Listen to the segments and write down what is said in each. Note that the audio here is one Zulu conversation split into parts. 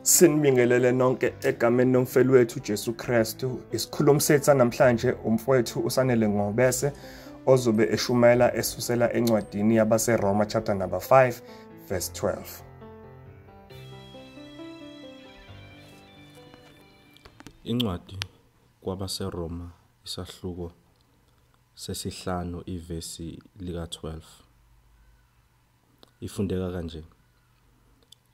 Sinibingelele nonke egameni nomfeli wethu Jesu Kristu. Isikhulumi sethu namhlanje umfowethu uSanele Ngobese ozobe eshumayela esusela encwadini yabaseRoma chapter number 5 verse 12. Incwadi kwabaseRoma isahluko sesihlanu ivesi lika-12 ifundeka kanje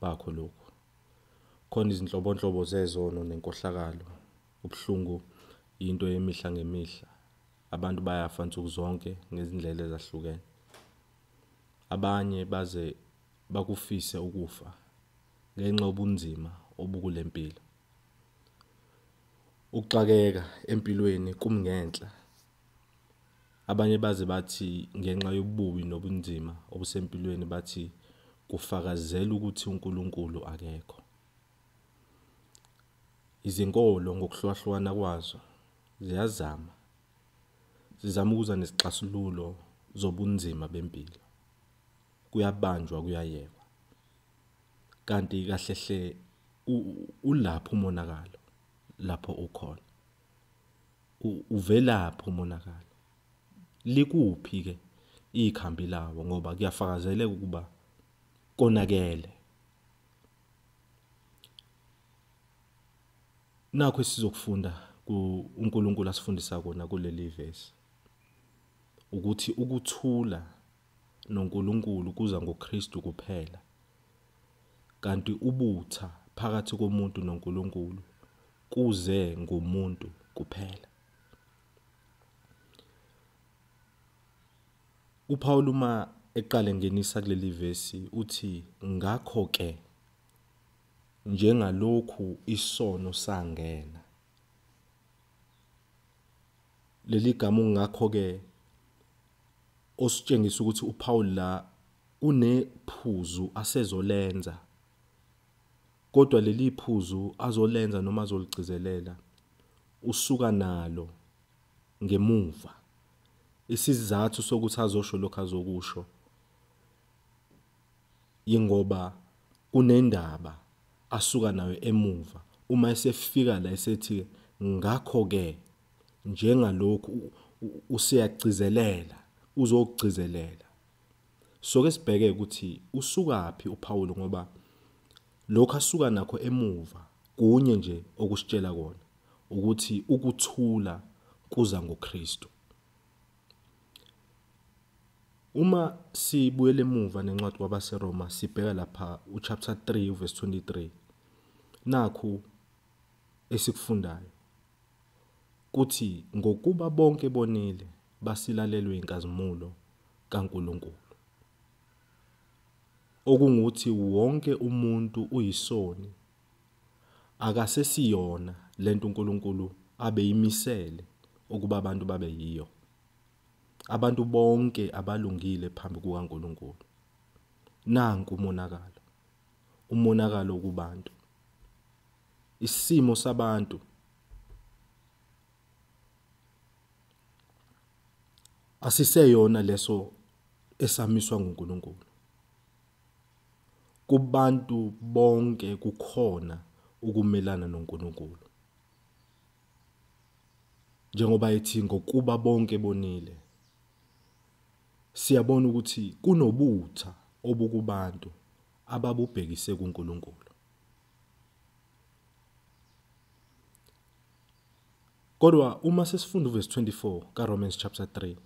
bakho lokhu. Khona izinhlobonhlobo zezono nenkohlakalo. Ubuhlungu yinto yemihla ngemihla. Abantu bayafa nsuku zonke ngezindlela ezahlukene. Abanye baze bakufise ukufa ngenxa obunzima obukule mpilo. Ukuxakeka empilweni kumngenhla Abanye baze bathi ngenxa yobubi nobunzima obusempilweni bathi kufakazela ukuthi uNkulunkulu akekho. Izinkolo ngokuhlukahlukana kwazo ziyazama zizama ukuza nesixazululo zobunzima bempilo. Kuyabanjwa kuyayekwa. Kanti kahle hle ulapho umonakalo lapho ukhona. uvelaphi umonakalo likuphi ke ikhambi lawo ngoba kuyafakazeleka ukuba konakele nakho esizokufunda uNkulunkulu asifundisa kona kuleli verse ukuthi ukuthula noNkulunkulu kuza ngoKristu kuphela, kanti ubutha phakathi komuntu noNkulunkulu kuze ngomuntu kuphela. UPawulu uma eqale ngenisa kuleli vesi uthi ngakho ke njengalokhu isono sangena leli gama ungakho ke ositshengisa ukuthi uPaul la unephuzu asezolenza kodwa leli phuzu azolenza noma azoligcizelela usuka nalo ngemuva isizathu sokuthi azosho lokho azokusho yingoba kunendaba asuka nayo emuva uma esefika la esethi ngakho ke njengalokhu useyagcizelela uzogcizelela soke sibheke ukuthi usukaphi uPawulu ngoba lokho asuka nakho emuva kunye nje okusitshela kona ukuthi ukuthula kuza ngoKristu Uma sibuyela emuva nencwadi kwabaseRoma sibheka lapha uchapter 3 verse 23 nakhu esikufundayo kuthi ngokuba bonke bonile basilalelwe inkazimulo kaNkuluNkulu okunguthi wonke umuntu uyisoni Akasesiyona lento uNkulunkulu abeyimisele ukuba abantu babe yiyo. Abantu bonke abalungile phambi kukaNkulunkulu. Nanku umonakalo. Umonakalo kubantu. Isimo sabantu asiseyona leso esamiswa nguNkulunkulu. Kubantu bonke kukhona ukumelana noNkulunkulu. Njengoba ethi ngokuba bonke bonile. Siyabona ukuthi kunobutha obukubantu ababubhekise kuNkulunkulu. Kodwa uma sesifunda uverse 24 kaRomans chapter 3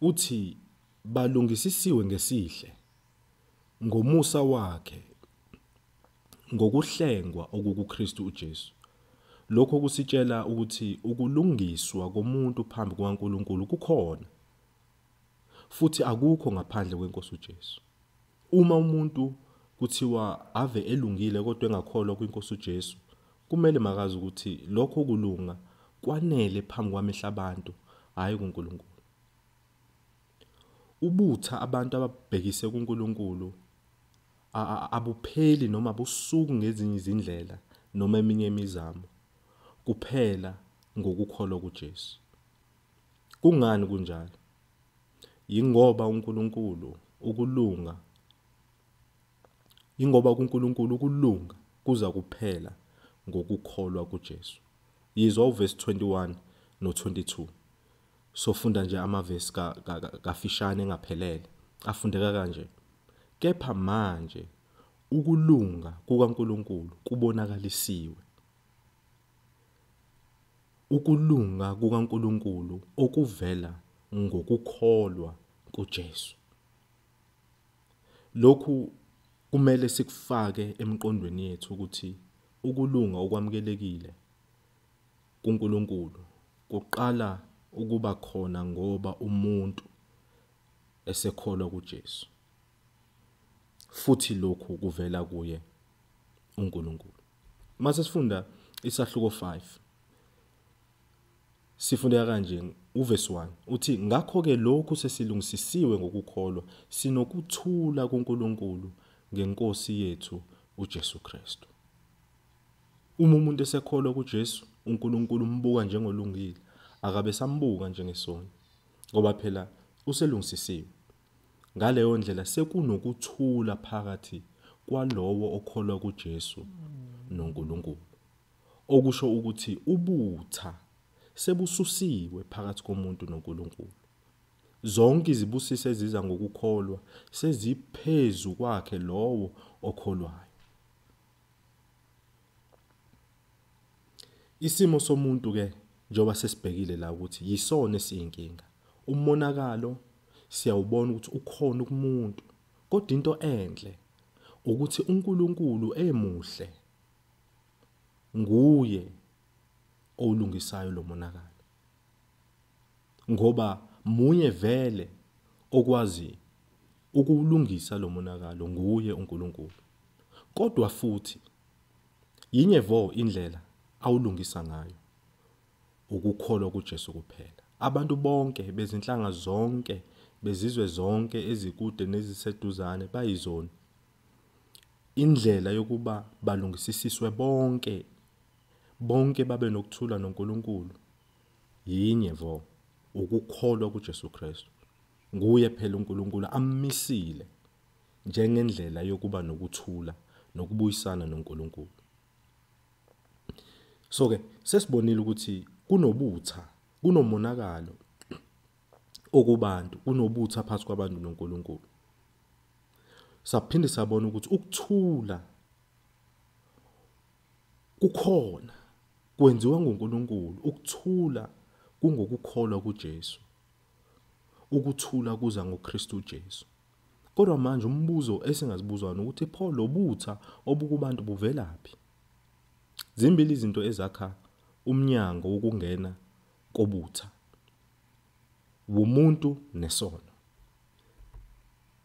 Uthi balungisisiwe ngesihle, ngomusa wakhe, ngokuhlengwa okukuKristu uJesu. Lokho kusitshela ukuthi ukulungiswa komuntu phambi kukaNkulunkulu kukhona, futhi akukho ngaphandle kweNkosi uJesu. Uma umuntu kuthiwa ave elungile kodwa engakholwa kwinkosi uJesu, kumele makazi ukuthi lokho kulunga kwanele phambi kwamehla abantu, hhayi kuNkulunkulu. Ubutha abantu ababhekise kuNkulunkulu abupheli noma busuku ngezinye izindlela noma eminye imizamo kuphela ngokukholwa kuJesu. Kungani kunjalo? Yingoba uNkulunkulu ukulunga Yingoba kuNkulunkulu ukulunga kuza kuphela ngokukholwa kuJesu. Yizwa uvesi 21 no-22. Sofunda nje amavesi kafishane engaphelele. Afundeka kanje. Kepha manje ukulunga kukaNkulunkulu kubonakalisiwe. ukulunga kukaNkulunkulu okuvela ngokukholwa kuJesu. Lokhu kumele sikufake emqondweni yethu ukuthi ukulunga okwamukelekile kuNkulunkulu kuqala ukuba khona ngoba umuntu esekholwa kuJesu futhi lokhu kuvela kuye uNkulunkulu. Mase sifunda isahluko 5. Sifundeka kanje uvesi 1 uthi ngakho ke lokhu sesilungisisiwe ngokukholwa sinokuthula kuNkulunkulu ngeNkosi yethu uJesu Kristu. Uma umuntu esekholwa kuJesu uNkulunkulu umbuka njengolungile akabe sambuka njengesoni ngoba phela uselungisisiwe Ngaleyo ndlela sekunokuthula phakathi kwalowo okholwa kuJesu noNkulunkulu. Okusho ukuthi ubutha sebususiwe phakathi komuntu noNkulunkulu. Zonke izibusiso eziza ngokukholwa seziphezu kwakhe lowo okholwayo. Isimo somuntu-ke njengoba sesibhekile la ukuthi yisona esiyinkinga. Umonakalo siyawubona ukuthi ukhona kumuntu, kodwa into enhle ukuthi uNkulunkulu emuhle nguye owulungisayo lo monakalo. ngoba munye vele okwazi ukuwulungisa lo monakalo nguye uNkulunkulu kodwa futhi yinye vo indlela awulungisa ngayo ukukholwa kuJesu kuphela abantu bonke bezinhlanga zonke bezizwe zonke ezikude neziseduzane bayizoni indlela yokuba balungisisiswe bonke bonke babe nokuthula noNkulunkulu Yinye vo, ukukholwa kuJesu Kristu. Nguye phela uNkulunkulu ammisile njengendlela yokuba nokuthula nokubuyisana noNkulunkulu. So ke sesibonile ukuthi kunobutha, kunomonakalo okubantu, kunobutha phakathi kwabantu noNkulunkulu. Saphinde sabona ukuthi ukuthula Kukhona kwenziwa nguNkulunkulu ukuthula kungokukholwa kuJesu. Ukuthula kuza ngoKristu Jesu. Kodwa manje umbuzo esingazibuza wona ukuthi pho lobutha obukubantu buvelaphi? Zimbili izinto ezakha umnyango wokungena kobutha. Wumuntu nesono.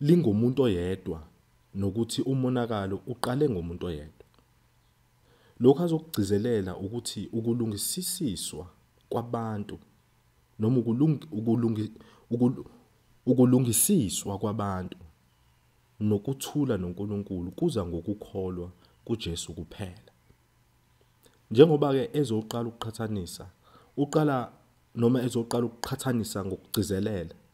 lingomuntu oyedwa nokuthi umonakalo uqale ngomuntu oyedwa. Lokhu azokugcizelela ukuthi ukulungisisiswa kwabantu noma ukulungisiswa kwabantu nokuthula noNkulunkulu kuza ngokukholwa kuJesu kuphela. Njengoba-ke ezoqala ukuqhathanisa, uqala noma ezoqala ukuqhathanisa ngokugcizelela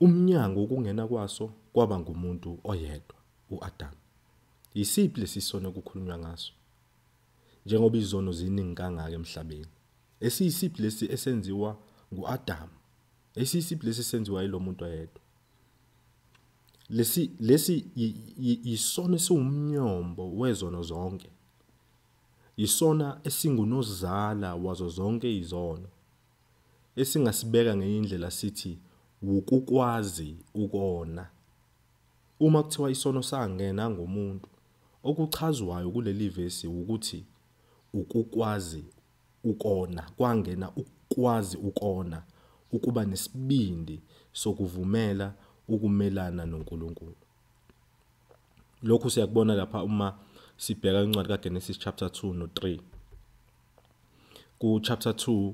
Umnyango ukungena kwaso kwaba ngumuntu oyedwa, uAdamu. Yisiphi lesi sono kukhulunywa ngaso? Njengoba izono ziningi kangaka emhlabeni, esiyisiphi lesi esenziwa nguAdamu? Esiyisiphi lesi esenziwa yilo muntu oyedwa? Lesi lesi yisona esiwumnyombo wezono zonke. Yisona esingunozala wazo zonke izono. Esingasibeka ngenye indlela sithi wukukwazi ukona. Uma kuthiwa isono sangena ngomuntu, okuchazwayo kuleli vesi wukuthi ukukwazi ukona, kwangena ukukwazi ukona, ukuba nesibindi sokuvumela ukumelana noNkulunkulu. lokhu siyakubona lapha uma sibheka incwadi kaGenesis chapter 2 no 3 ku chapter 2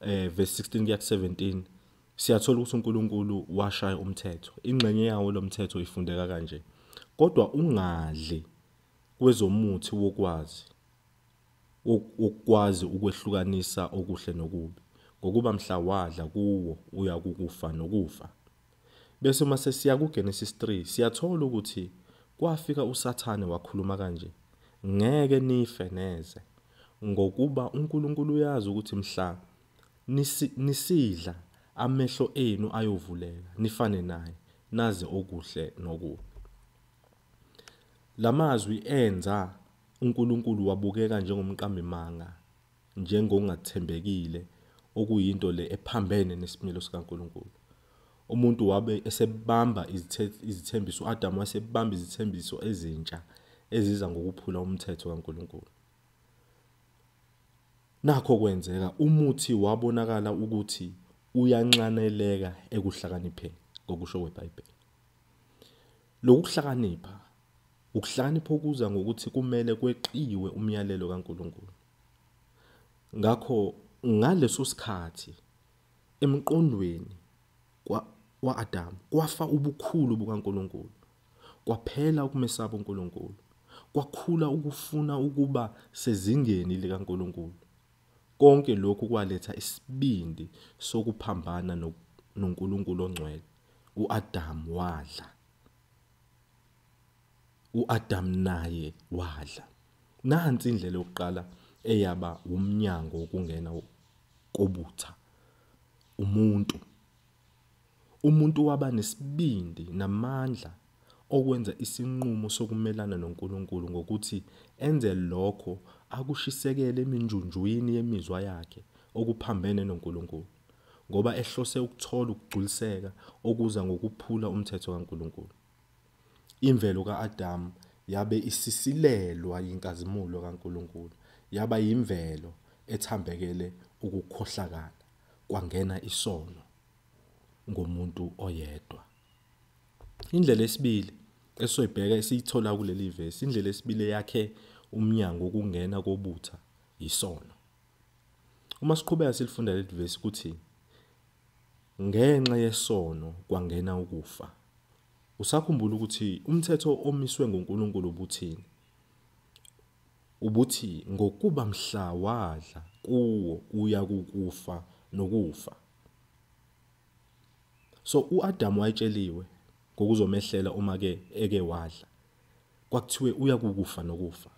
eh verse 16 kuya 17 siyathola ukuthi uNkulunkulu washaya umthetho ingxenye yawo lomthetho ifundeka kanje kodwa ungadli kwezomuthi wokwazi ukwazi ukwehlukanisa okuhle nokubi ngokuba mhla wadla kuwo uyakukufa nokufa Bese uma sesiya kuGenesis 3 siyathola ukuthi kwafika uSathane wakhuluma kanje, Ngeke nife neze, ngokuba uNkulunkulu uyazi ukuthi mhla nisi, nisidla amehlo enu ayovuleka, nifane naye, nazi okuhle nokubi. La mazwi enza uNkulunkulu wabukeka njengomqambimanga njengongathembekile, okuyinto le ephambene nesimilo sikaNkulunkulu. Umuntu wabe esebamba izithembiso, u-Adamu wasebamba izithembiso ezintsha eziza ngokuphula umthetho kaNkulunkulu. Nakho kwenzeka umuthi wabonakala ukuthi uyanxaneleka ekuhlakanipheni ngokusho kweBhayibheli. Lokuhlakanipha ukuhlakanipha okuza ngokuthi kumele kweqiwe umyalelo kaNkulunkulu. Ngakho ngaleso sikhathi emqondweni wa-Adamu kwafa ubukhulu bukaNkulunkulu, kwaphela ukumesaba uNkulunkulu, kwakhula ukufuna ukuba sezingeni likaNkulunkulu. Konke lokhu kwaletha isibindi sokuphambana noNkulunkulu ongcwele. U-Adamu wadla. U-Adamu naye wadla. Nansi indlela yokuqala eyaba wumnyango wokungena kobutha. Umuntu. Umuntu waba nesibindi namandla okwenza isinqumo sokumelana noNkulunkulu ngokuthi enze lokho akushisekele eminjunjwini yemizwa yakhe okuphambene noNkulunkulu ngoba ehlose ukuthola ukugculiseka okuza ngokuphula umthetho kaNkulunkulu. Imvelo ka-Adamu yabe isisilelwa yinkazimulo kaNkulunkulu, yaba yimvelo ethambekele ukukhohlakala, kwangena isono ngomuntu oyedwa. Indlela esibili esoyibheka esiyithola kuleli vesi, indlela esibili eyakhe umnyango wokungena kobutha yisono. Uma siqhubeka silifunda leli vesi ukuthi ngenxa yesono kwangena ukufa. Usakhumbula ukuthi umthetho omiswe nguNkulunkulu ubuthini? Ubuthi ngokuba mhla wadla kuwo uya kukufa nokufa. So uAdam wayetsheliwe ngokuzomehlela uma ke eke wadla. Kwakuthiwe uya kukufa nokufa.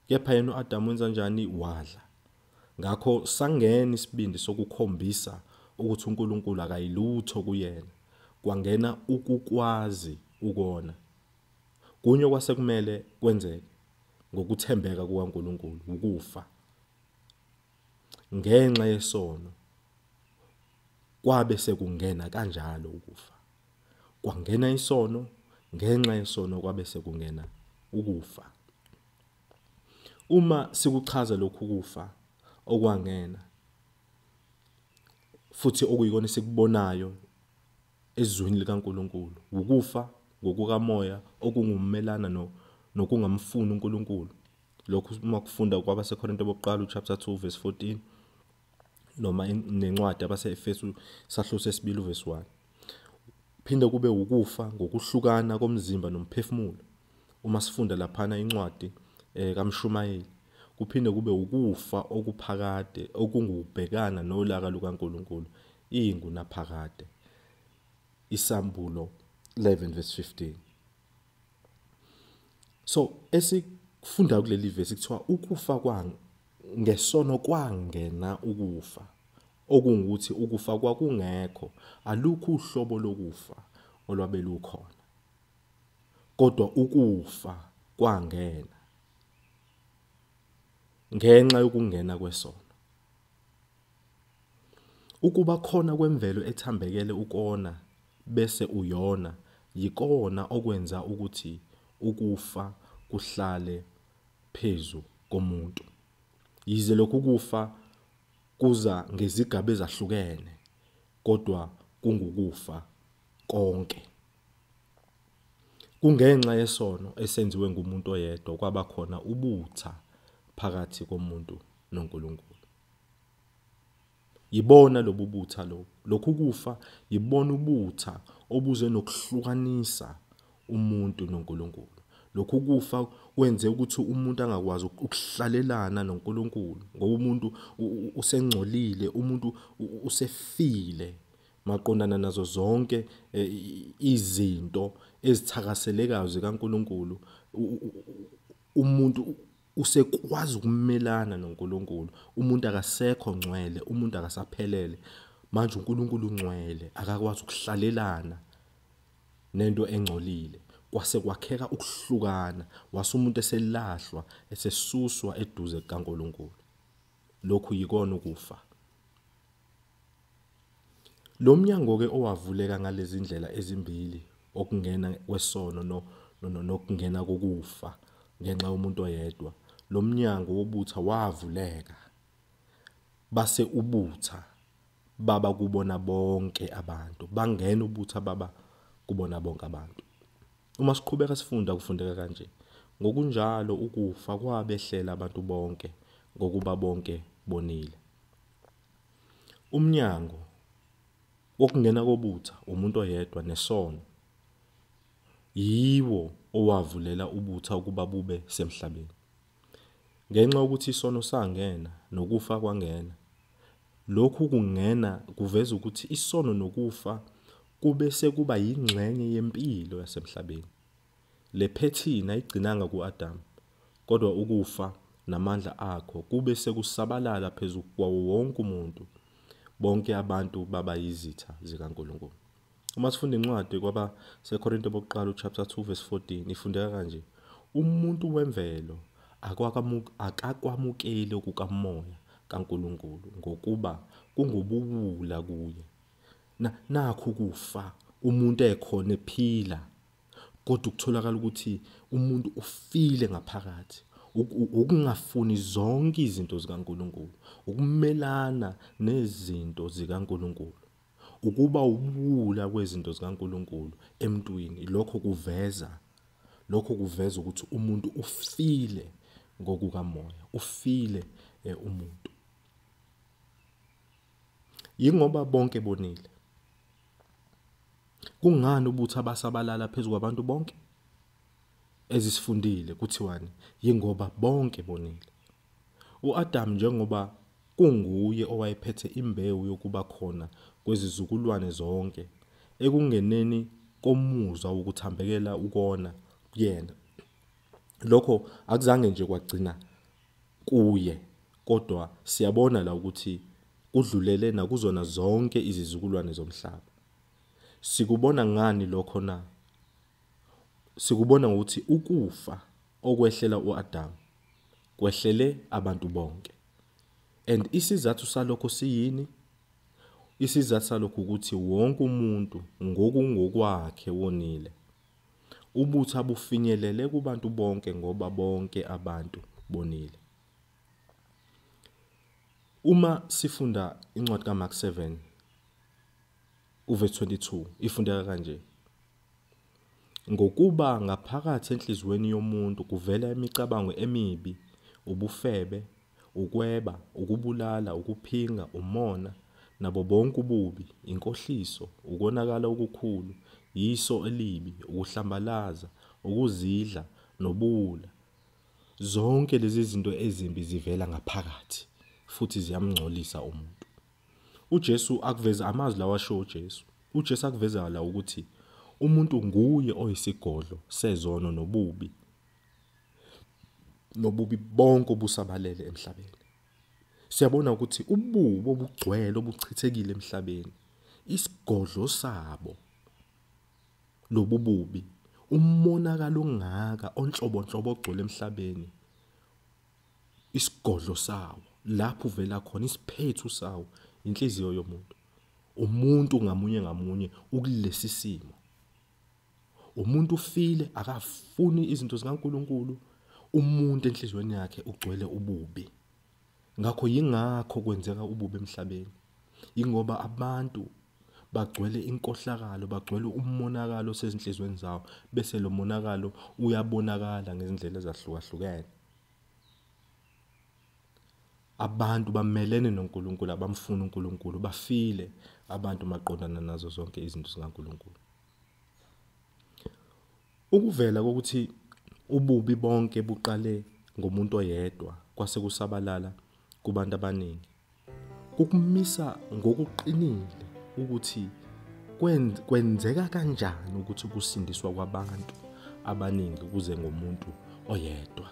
Kepha yena uAdamu wenza njani? Wadla. Ngakho sangena isibindi sokukhombisa ukuthi uNkulunkulu akayilutho kuyena. Kwangena ukukwazi ukona. Kunye okwase kumele kwenzeke ngokuthembeka kukaNkulunkulu ukufa ngenxa yesono Kwabe sekungena kanjalo ukufa. Kwangena isono, ngenxa yesono kwabe sekungena ukufa. Uma sikuchaza lokhu kufa okwangena futhi okuyikona esikubonayo ezweni likaNkuluNkulu, wukufa ngokukamoya okungumelana no nokungamfuni uNkuluNkulu. Lokhu uma kufunda kwabaseKorinte bokuqala uchapter 2 verse 14 noma nencwadi abase-efesu sahluko sesibili uvesi 1 phinde kube ukufa ngokuhlukana komzimba nomphefumulo uma sifunda laphana incwadi eh, kamshumayeli kuphinde kube ukufa okuphakade okungubhekana nolaka lukaNkuluNkulu ingu naphakade isambulo 11 verse 15 so esikufunda kuleli vesi kuthiwa ukufa kwang ngesono kwangena ukufa okungukuthi ukufa kwakungekho alukho uhlobo lokufa olwabe lukhona kodwa ukufa kwangena ngenxa yokungena kwesono Ukuba khona kwemvelo ethambekele ukona bese uyona yikona okwenza ukuthi ukufa kuhlale phezu komuntu. Yize lokhu kufa kuza ngezigaba ezahlukene kodwa kungukufa konke. Kungenxa yesono esenziwe ngumuntu oyedwa kwaba khona ubutha phakathi komuntu noNkulunkulu. Yibona lobu butha lobu. Lokhu kufa yibona ubutha obuze nokuhlukanisa umuntu noNkulunkulu. Lokhu kufa kwenze ukuthi umuntu angakwazi ukuhlalelana noNkulunkulu ngoba umuntu usengcolile, umuntu usefile maqondana nazo zonke eh, izinto ezithakaselekayo zikaNkuluNkulu umuntu usekwazi ukumelana noNkuluNkulu umuntu akasekho ngcwele umuntu akasaphelele manje uNkuluNkulu ungcwele akakwazi ukuhlalelana nento engcolile kwase kwakheka ukuhlukana wase umuntu eselahlwa esesuswa eduze kaNkuluNkulu lokhu yikona ukufa Lo mnyango-ke owavuleka ngalezi ndlela ezimbili, okungena kwesono no, no, no, nokungena kokufa ngenxa yomuntu oyedwa, lo mnyango wobutha wavuleka, base ubutha baba kubona bonke abantu, bangena ubutha baba kubona bonke abantu. Uma siqhubeka sifunda kufundeka kanje, ngokunjalo ukufa kwabehlela abantu bonke, ngokuba bonke bonile. Umnyango wokungena kobutha umuntu oyedwa nesono yiwo owavulela ubutha ukuba bube semhlabeni. Ngenxa yokuthi isono sangena nokufa kwangena, lokhu kungena kuveza ukuthi isono nokufa kube sekuba yingxenye yempilo yasemhlabeni. Le phethini ayigcinanga ku-Adam, kodwa ukufa namandla akho kube sekusabalala phezu kwawo wonke umuntu. Bonke abantu baba yizitha zikaNkulunkulu. Uma sifunda incwadi kwaba seKorinte bokuqala uchapter 2 verse 14 ifundeka kanje. Umuntu wemvelo akakwamukeli okukamoya kaNkulunkulu ngokuba kungubuwula kuye. Na, nakhu kufa umuntu ekhona ephila. kodwa ukutholakala ukuthi umuntu ufile ngaphakathi ukungafuni zonke izinto zikaNkuluNkulu ukumelana nezinto zikaNkuluNkulu ukuba ubula kwezinto zikaNkuluNkulu emntwini lokho kuveza lokho kuveza ukuthi umuntu ufile ngokukamoya ufile eh, umuntu yingoba bonke bonile Kungani ubuthi abasabalala phezu kwabantu bonke? Ezisifundile kuthiwani? Yingoba bonke bonile. UAdamu njengoba kunguye owayephethe imbewu yokuba khona kwezizukulwane zonke ekungeneni komuzwa wokuthambekela ukona kuyena. Lokho akuzange nje kwagcina kuye kodwa siyabona la ukuthi kudlulele nakuzona zonke izizukulwane zomhlaba. Sikubona ngani lokho na? Sikubona ngokuthi ukufa okwehlela uAdamu kwehlele abantu bonke. And isizathu salokho siyini? Isizathu salokho ukuthi wonke umuntu ngokungokwakhe wonile. Ubutho abufinyelele kubantu bonke ngoba bonke abantu bonile. Uma sifunda incwadi kaMark 7 uverse 22 ifundeka kanje. Ngokuba ngaphakathi enhliziyweni yomuntu kuvela imicabango emibi, ubufebe, ukweba, ukubulala, ukuphinga, umona, nabo bonke ububi, inkohliso, ukonakala okukhulu, yiso elibi, ukuhlambalaza, ukuzidla, nobuwula. Zonke lezi zinto ezimbi zivela ngaphakathi futhi ziyamngcolisa umuntu. UJesu akuveza amazwi lawa ashiwo uJesu. UJesu akuveza la ukuthi umuntu nguye oyisigodlo sezono nobubi nobubi bonke obusabalele emhlabeni. Siyabona ukuthi ububo obugcwele obuchithekile emhlabeni isigodlo sabo lobububi umonakalo ongaka onhlobonhlobo ogcwele emhlabeni isigodlo sawo lapho uvela khona isiphethu sawo inhliziyo yomuntu umuntu ngamunye ngamunye ukulesi simo umuntu ufile akafuni izinto zikaNkuluNkulu umuntu enhlizweni yakhe ugcwele ububi ngakho yingakho kwenzeka ububi emhlabeni ingoba abantu bagcwele inkohlakalo bagcwele umonakalo sezinhlizweni zawo bese lo monakalo uyabonakala ngezindlela ezahlukahlukene abantu bamelene noNkulunkulu abamfuni uNkulunkulu bafile abantu maqondana nazo zonke izinto zikaNkulunkulu Ukuvela kokuthi ububi bonke buqale ngomuntu oyedwa kwase kusabalala kubantu abaningi kukumisa ngokuqinile ukuthi kwenzeka kanjani ukuthi kusindiswa kwabantu abaningi kuze ngomuntu oyedwa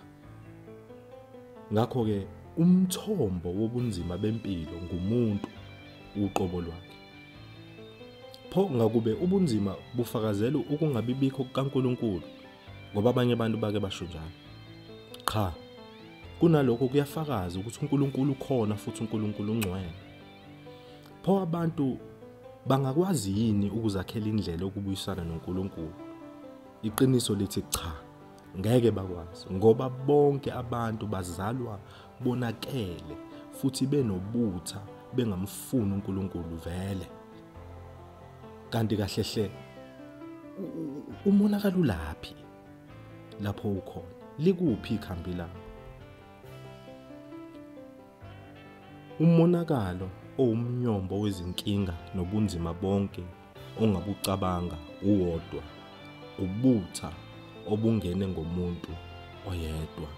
ngakho-ke umthombo wobunzima bempilo ngumuntu uqobo lwakhe Pho ngakube ubunzima bufakazela ukungabibikho kukaNkulunkulu ngoba abanye abantu bake basho njalo. Cha. Kunalokho kuyafakaza ukuthi uNkulunkulu ukhona futhi uNkulunkulu ungcwele. Pho abantu bangakwazi yini ukuzakhela indlela yokubuyisana noNkulunkulu? Iqiniso lithi cha. Ngeke bakwazi ngoba bonke abantu bazalwa bonakele futhi benobutha bengamfuni uNkulunkulu vele. Kanti kahle hle umonakalo laphi lapho ukhona likuphi ikhambi lakho umonakalo owumnyombo wezinkinga nobunzima bonke ongabucabanga uwodwa ubutha obungene ngomuntu oyedwa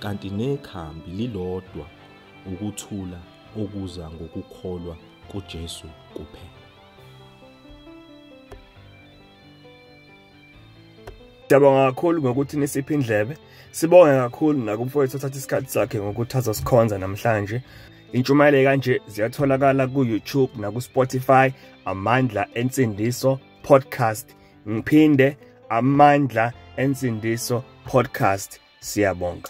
kanti nekhambi lilodwa ukuthula okuza ngokukholwa kuJesu kuphela Siyabonga kakhulu ngokuthi nisiphe indlebe. Sibonge kakhulu nakumfowethu othatha isikhathi sakhe ngokuthi azosikhonza namhlanje. Intshumayelo kanje ziyatholakala ku-YouTube naku-Spotify Amandla Ensindiso Podcast. Ngiphinde Amandla Ensindiso Podcast. Siyabonga.